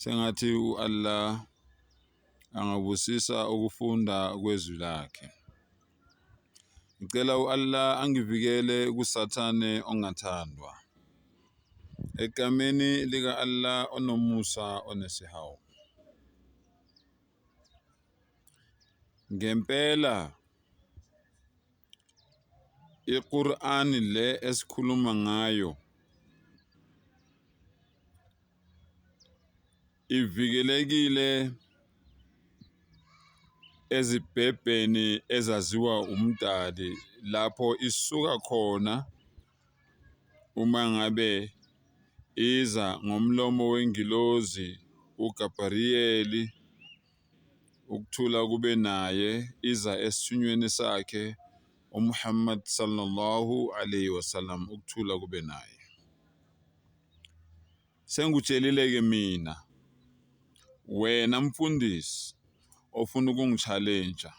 Sengathi uAllah angabusisa ukufunda kwezwi lakhe. Ngicela uAllah angivikele kusathane ongathandwa. Egameni lika Allah onomusa onesihawu. Ngempela I-Qur'an le esikhuluma ngayo ivikelekile ezibhebheni ezaziwa umdali lapho isuka khona uma ngabe iza ngomlomo wengilozi uGabriyeli ukuthula kube naye iza esithunyweni sakhe uMuhammad sallallahu alayhi wasallam ukuthula kube naye sengitshelile ke mina wena mfundisi ofuna ukungichallenge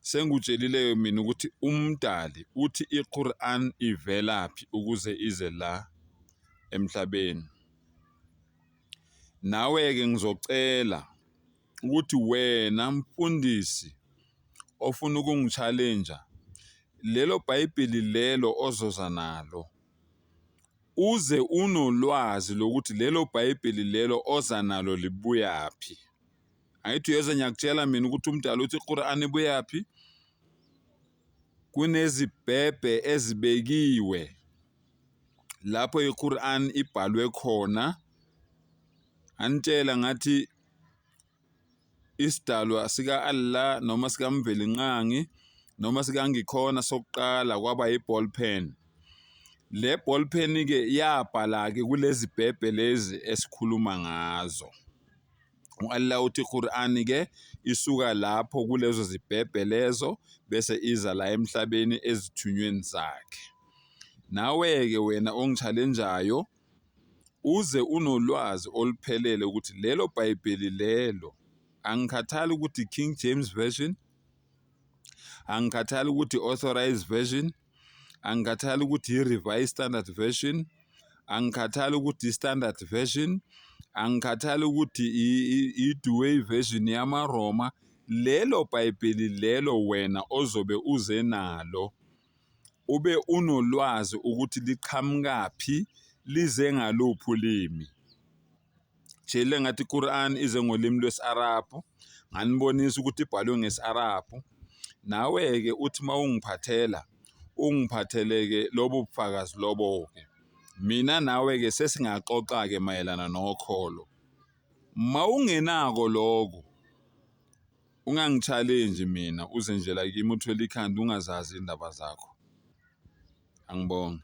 sengitshelile ke mina ukuthi umdali uthi iQur'an ivelaphi ukuze ize la emhlabeni Nawe-ke ngizocela ukuthi wena mfundisi ofuna ukungishalenja lelo bhayibheli lelo ozoza nalo uze unolwazi lokuthi lelo bhayibheli lelo oza nalo libuyaphi angithi uyoze ngiyakutshela mina ukuthi umdala uthi iquran ibuyaphi Kunezibhebhe ezibekiwe lapho iQur'an ibhalwe khona. Anitshela ngathi isidalwa sika-Allah noma sikamvelinqangi noma sikangikhona sokuqala kwaba yi-ball pen. Le ball pen-ke yabhala-ke kulezi bhebhe lezi esikhuluma ngazo. U-Allah uthi iQur'ani-ke isuka lapho kulezo zibhebhe lezo bese iza la emhlabeni ezithunyweni zakhe. Nawe-ke wena ongichalenjayo uze unolwazi oluphelele ukuthi lelo Bhayibheli lelo angikhathali ukuthi King James Version, angikhathali ukuthi Authorized Version, angikhathali ukuthi yi-revised standard version angikhathali ukuthi yi-standard version angikhathali ukuthi i-duway version yamaroma lelo bhayibheli lelo wena ozobe uze nalo ube unolwazi ukuthi liqhamukaphi lize ngaluphi ulimi shele ngathi iQuran ize ngolimi lwesi-Arabhu nganibonisa ukuthi ibhalwe ngesi-Arabhu nawe-ke uthi uma ungiphathela ungiphathele-ke lobo bufakazi lobo-ke mina nawe-ke sesingaxoxa-ke mayelana nokholo uma ungenako lokho ungangi-challenge mina uze nje la kimi uthwele ikhanda ungazazi iy'ndaba zakho angibonge